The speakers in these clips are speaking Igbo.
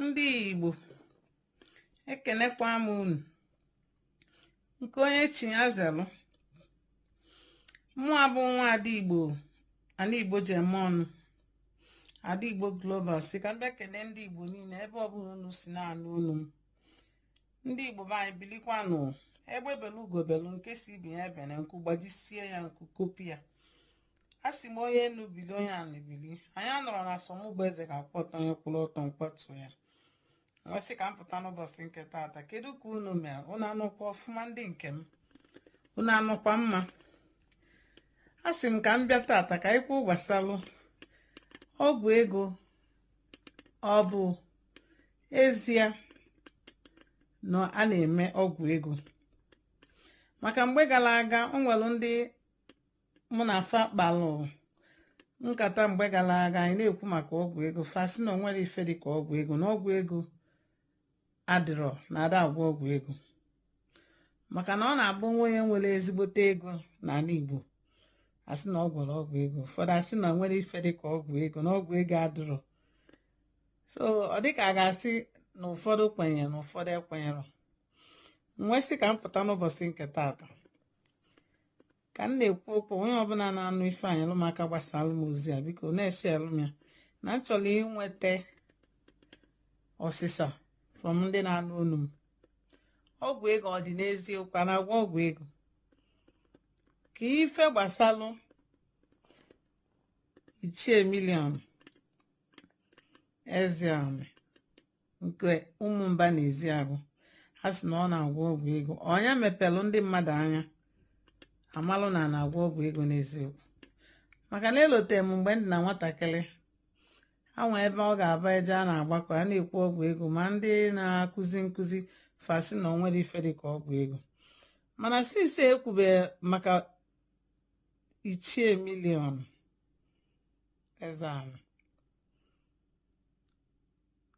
ndị Igbo ekenekwa m unu nke onye chi ya zelu mụwa bụ nwa ada Igbo anị Igbo ji eme ọnụ ada Igbo global si ka m bịa kene ndị Igbo niile ebe ọbụla unu si na-anụ onu m ndị Igbo be anyị bilikwanụ egbe belu ugo belu nke si ibe ya ebene nku gbajisie ya nku kopi ya a sị m onye enu bili onye anị bili anyị anọrọ na asọmụgba eze ga-akwụ ọtọ onye kwụrụ ọtọ m kwatu ya m wee sị ka m pụta n'ụbọchị nke taata kedu ka unu mere unu anọkwa ọfụma ndị nke m unu anọkwa mma a sị m ka m bịa taata ka anyị kwuo gbasalụ ọgwụ ego ọ bụ ezie na a na-eme ọgwụ ego maka mgbe gala aga o nwelu ndị mụ na fa kpalụ nkata mgbe gala aga anyị na-ekwu maka ọgwụ ego fa sị na o nwerọ ife dị ka ọgwụ ego na ọgwụ ego adịrọ na a da-agwọ ọgwụ ego maka na ọ na-abụ e nwee onye nwere ezigbote ego n'anị Igbo a sị na ọ gwọrọ ọgwụ ego ụfọdụ asị na e nwerọ ife dị ka ọgwụ ego na ọgwụ ego adịrọ so ọ dịka a ga-asị na ụfọdụ kwenyere na ụfọdụ ekwenyerọ m wee sị ka m pụta n'ụbọchị nke taata ka m na-ekwu okwu onye ọbụla na-anụ ife a nyelụ m aka gbasaalụ m ozi a biko na-esheelụ m ya na m chọrọ inweta ọsịsa from ndị na-anụ olu m ọgwụ ego ọ dị n'eziokwu a na-agwọ ọgwụ ego ka ife gbasalụ Ichie Million Ezeani nke Ụmụmba na Ezeagụ a sị na ọ na-agwọ ọgwụ ego ọ nya mepelụ ndị mmadụ anya a malụ na a na-agwọ ọgwụ ego n'eziokwu maka na elotere m mgbe m dị na nwatakịrị e nwee ebe ọ ga-abụ e jee a na-agbakọ a na-ekwu ọgwụ ego ma ndị na-akụzi nkụzi fa sị na o nwerọ ife dị ka ọgwụ ego mana since e kwube maka Ichie Million Ezeani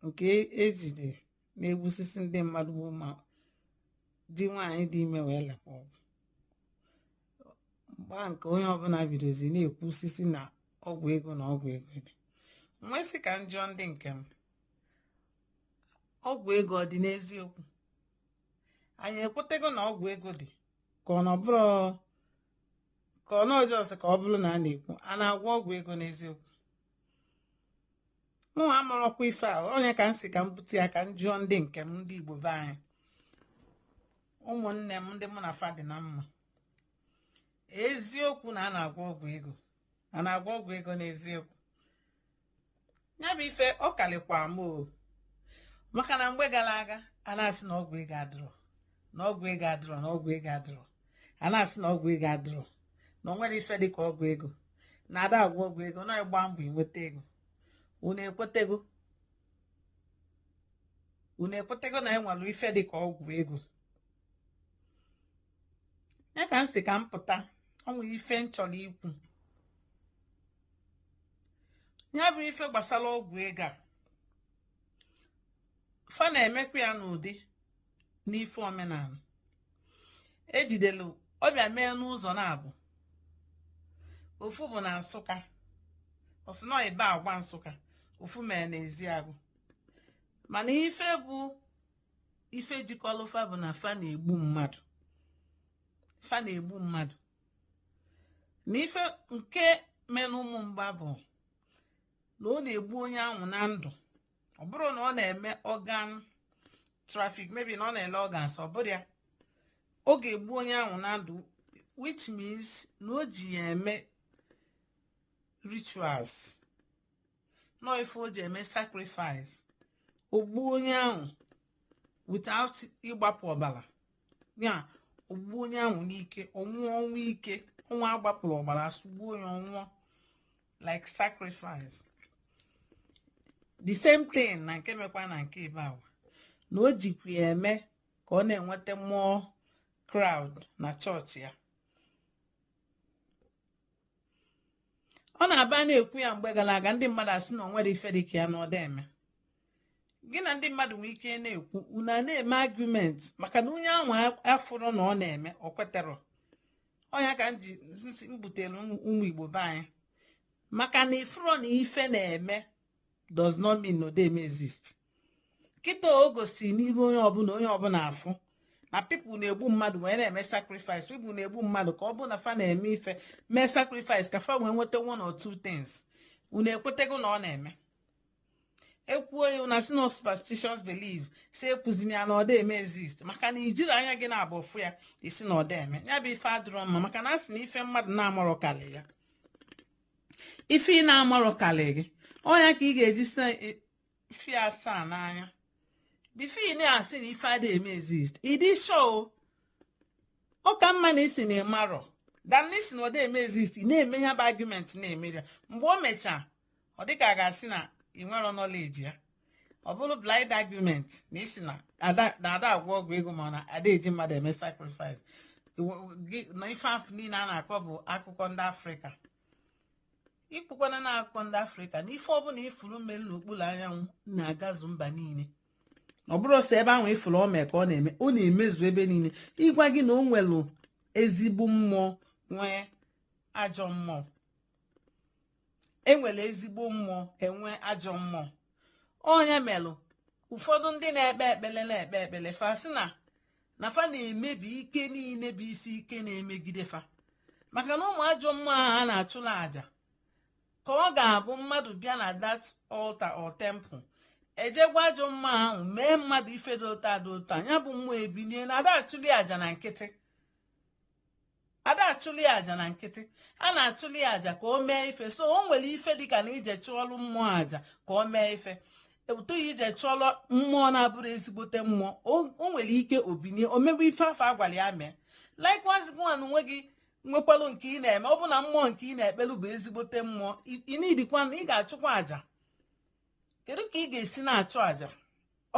nke e jide na-egbusisi ndị mmadụ ma ndị nwaanyị dị ime welụ agwọ ọgwụ mgbe ahụ ka onye ọbụla bidozi na-ekwusisi na ọgwụ ego na ọgwụ ego dị m wee sị ka m jụọ ndị nke m ọgwụ ego ọ dị n'eziokwu anyị ekwetego na ọgwụ ego dị ka ọ nọbụrụ ka ọ nọ just ka ọ bụrụ na a na-ekwu a na-agwọ ọgwụ ego n'eziokwu mụ amarọkwa ife a ọnya ka m si ka m bute ya ka m jụọ ndị nke m ndị Igbo be anyị ụmụnne m ndị mụ na fa dị na mma eziokwu na a na-agwọ ọgwụ ego a na-agwọ ọgwụ ego n'eziokwu ya bụ ife ọ kalịkwa m o maka na mgbe gara aga a na-asị na ọgwụ ego adịrọ na ọgwụ ego adịrọ na ọgwụ ego adịrọ a na-asị na ọgwụ ego adịrọ na o nwerọ ife dị ka ọgwụ ego na a da agwọ ọgwụ ego na ịgba mbọ inweta ego unu ekwetego unu ekwetego na e nwere ife dị ka ọgwụ ego ya ka m si ka m pụta ọ nwere ife m chọrọ ikwu ya bụ ife gbasara ọgwụ ego a fa na-emekwa ya n'ụdị n'ife omenala e jidelu ọ bịa mee n'ụzọ naabọ ofu bụ na nsụka ọ sị na ibagwa nsụka ofu mere n'ezeagụ mana ife bụ ife jikọlụ fa bụ na fa na-egbu mmadụ fa na-egbu mmadụ na ife nke mere n'ụmụmba bụ na ọ na-egbu onye ahụ na ndụ ọ bụrụ na ọ na-eme organ traffic maybe na ọ na-ele organs ọ bụrụ ya ọ ga-egbu onye ahụ na ndụ which means na o ji ya eme rituals nọ ife o ji eme sacrifice o gbuo onye ahụ without ịgbapụ ọbara ya o gbuo onye ahụ n'ike ọ nwụọ ọnwụ ike ọnwa agbapụrụ ọbara sụgbuo onye ọ nwụọ like sacrifice the same thing na nke mekwa na nke ibagwa na o jikwa ya eme ka ọ na-enweta more crowd na chọọchị ya ọ na-abụ a na-ekwu ya mgbe gara aga ndị mmadụ asị na o nwerọ ife dị ka ya na ọ da eme gị na ndị mmadụ nwee ike na-ekwu unu na-eme argument maka na onye ahụ afụrọ na ọ na-eme o kweterọ ọnya ka m ji butere ụmụ igbo be anyị maka na ị fụrọ na ife na-eme does not mean na ọ da eme exist kịta o gosi n'iru onye ọbụla onye ọbụla afụ na people na-egbu mmadụ wee na-eme sacrifice people na-egbu mmadụ ka ọ bụ na fa na-eme ife mee sacrifice ka fa wee nweta one or two things unu ekwetego na ọ na-eme e kwuo ya a na-asị na superstitious belief sị ekwuzina ya na ọ da eme exist maka na i jirọ anya gị naabọ fụ ya ị sị na ọ da eme ya bụ ife adịrọ mma maka na a sị na ife mmadụ na-amarọ karị ya ife ị na-amarọ karị gị ọnya ka ị ga-eji si e, fi asaa n'anya before ị na-asị na ife adịghị eme exist ị dị sure ọ ka mma na ị sị na ị marọ than na ị sị na ọ da eme exist ị na-eme ya bụ argument na-eme ya mgbe o mechaa ọ dịka a ga-asị na ị nwerọ knowledge ya ọ bụrụ blind argument na ịsị na ada agwọ ọgwụ ego ma na ada eji mmadụ eme sacrifice na ife afụ niile a na-akọ bụ akụkọ ndị afrịka ikwukwana na akụkọ ndị afrịka na ife ọbụla ifuru mere n'okpuru anyanwụ na-agazu mba niile ọ bụrọ sọ ebe ahụ ifuru ọ mee ka ọ na-eme ọ na-emezu ebe niile ịgwa gị na o nwere ezigbo mmụọ nwee ajọ mmụọ enwere ezigbo mmụọ enwe ajọ mmụọ ọnya melụ ụfọdụ ndị na-ekpe ekpele na-ekpe ekpele fa sị na na fa na-emebi ike niile bụ ife ike na-emegide fa maka na ụmụ ajọ mmụọ ahụ a na-achụla àjà ka ọ ga-abụ mmadụ bịa na that altar or temple e je gwa ajọ mmụọ ahụ mee mmadụ ife dị otu a dị otu a nya bụ mmụọ ebinie na ada achụli àjà na nkịtị ada achụli aja na nkịtị a na-achụli aja ka o mee ife so o nwere ife dịka na ije chụọlụ mmụọ aja ka o mee ife but ije chụọlụ mmụọ na-abụrọ ezigbote mmụọ o nwere ike o binie o mebe ife afụ a gwara ya mee likewise gịwa na onwe gị nwekwalụ nke ị na-eme ọ bụ na mmụọ nke ị na-ekpelu bụ ezigbote mmụọ ị needikwa na ị ga-achụkwa aja kedu ka ị ga-esi na-achụ àjà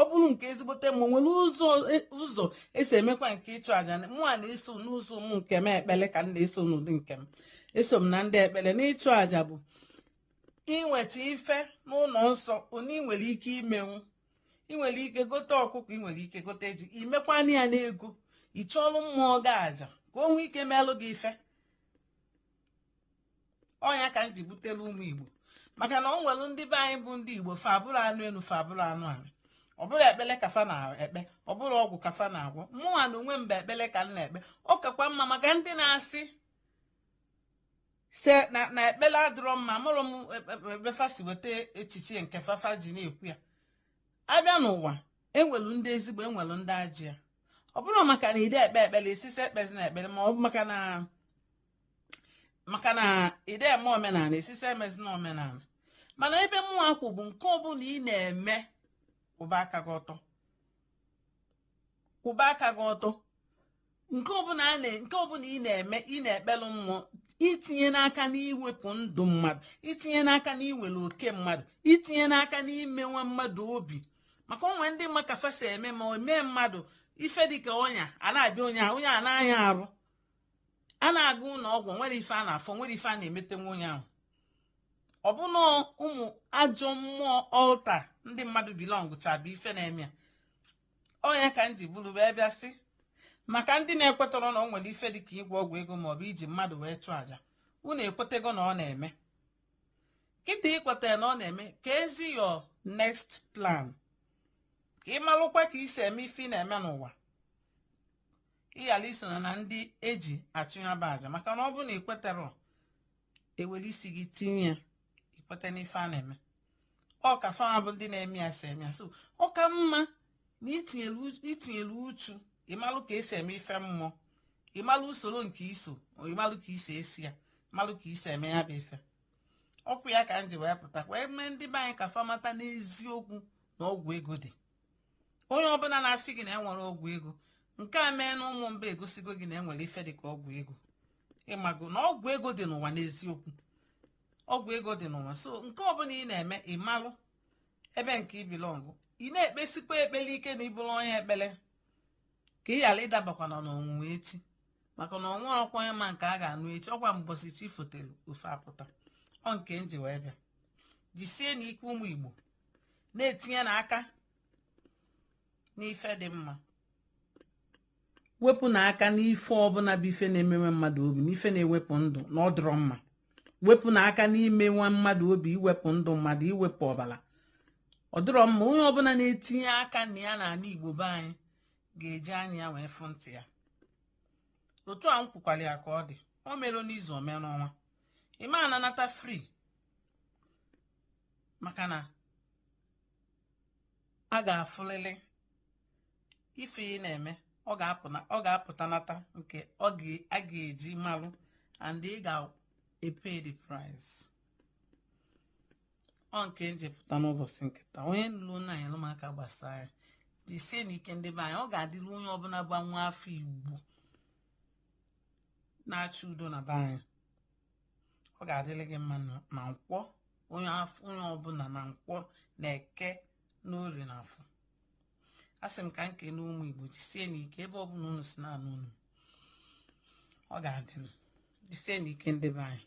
ọ bụrụ nke ezigbote mmụọ nwere ụzọ e, ụzọ esi emekwa nke ịchụ àjà mụwa na-eso n'ụzọ m nke m ekpele ka m na-eso n'ụdị nke m eso m na ndị ekpele n'ịchụ àjà bụ iweta ife n'ụlọ nsọ onye ị nwere ike imenwu ị nwere ike gote ọkụkọ ị nwere ike gote ji imekwa nya n'ego ị chụọlụ mmụọ gị àjà ka o nwee ike melụ gị ife ọnya ka m ji butelu ụmụ igbo maka na o nwere ndị be anyị bụ ndị igbo fa abụrọ anụ elu fa abụrọ anụ ala ọ bụrọ ekpele ka fa na-ekpe ọ bụrọ ọgwụ ka fa na-agwọ mụnwa na onwe m bụ ekpele ka m na-ekpe ọ kakwa mma maka ndị na-asị sị na na ekpele adịrọ mma amarọ m ebe fa e, e, si weta echiche nke fafa ji na-ekwu ya abịa n'ụwa enwelu ndị ezigbo enwelu ndị ajọ ya ọ bụrọ maka na ịda ekpe ekpele ị sị sị ekpezina ekpele ma ọ bụ maka na maka na ịda eme omenala ị sị sị emezina omenala mana ebe mụnwa kwụ bụ nke ọbụla ị na-eme kwụba aka gị ọtọ kwụba aka gị ọtọ nke ọbụla a na nke ọbụla ị na-eme ị na-ekpelụ mmụọ etinyena aka n'iwepụ ndụ mmadụ etinyena aka n'iwere oke mmadụ etinyena aka n'imewa mmadụ obi maka o nwe ndị ma ka fa si eme ma o mee mmadụ ife dịka ọnya a na-abịa onye a onye a na-aya arụ a na-aga ụlọ ọgwụ nwerọ ife a na-afụ nwerọ ife a na-emete onye ahụ ọ bụ na ụmụ ajọ mmụọ altar ndị mmadụ belongcha bụ ife na-eme ya ọ ya ka m ji buru wee bịa sị maka ndị na-ekwetarọ na o nwere ife dị ka ịgwọ ọgwụ ego maọbụ iji mmadụ wee chụọ àjà unu ekwetego na ọ na-eme kịta i kwetara na ọ na-eme keezi your next plan ka ị malụkwa ka i si eme ife ị na-eme n'ụwa ị ghara iso na ndị e ji achụ ya bụ aja maka na ọ bụrụ na i kweterọ e were isi gị tinye ya i kweta n'ife a na-eme ọ ka fa nwa bụ ndị na-eme ya si eme ya so ọ ka mma na i tinyere uchu ịmalụ ka e si eme ife mmụọ ịmalụ usoro nke i so ịmalụ ka i si eso ya malụ ka i si eme ya bụ ife ọkwa ya ka m ji wee pụta wee mee ndị be anyị ka fa mata n'eziokwu na ọgwụ ego dị onye ọbụla na-asị gị na enwerọ ọgwụ ego nke a mee na ụmụmba egosigo gị na enwere ife dịka ọgwụ ego ị mago na ọgwụ ego dị n'ụwa n'eziokwu ọgwụ ego dị n'ụwa so nke ọbụla ị na-eme ị malụ ebe nke ị belong ị na-ekpesikwa ekpele ike na ị bụrụ onye ekpele ka ị ghara ịdabakwana n'ọnwụnwa echi maka na ọnwa ọkwa onye ma nke a ga-anụ echi ọkwa mbọsị chi fotelu ife apụta ọ nke m ji wee bịa jisienụ ike ụmụ igbo na-etinyenụ aka n'ife dị mma wepụnụ aka n'ife ọbụla bụ ife na-emewa mmadụ obi n'ife na-ewepụ ndụ na ọ dịrọ mma wepụnụ aka n'imewa mmadụ obi iwepụ ndụ mmadụ iwepụ ọbara ọ dịrọ mma onye ọbụla na-etinye aka na ya n'ala igbo be anyị ga-eji anya ya wee fụ ntị ya otu a m kwukwara ya ka ọ dị o mere n'izu o mere n'ọnwa ị ma ananata free maka na a ga-afụlịlị ife ị na-eme ọ ga-apụta nata nke a ga-eji malụ and ị ga-epay the price ọ nke m ji pụta n'ụbọsị nke taa onye nụrụnụ ya nyelụ m aka gbasaa ya jisienụ ike ndị be anyị ọ ga-adịrị onye ọbụla bụ nwa afọ igbo na-achọ udo na be anyị ọ ga-adịrị gị mma na nkwọ onye ọbụla na nkwọ na eke na orie na afọ asị m ka m kene ụmụ igbo jisienụ ike ebe ọbụla unu si na-anụ onu m ọ ga-adị mma jisienụ ike ndị be anyị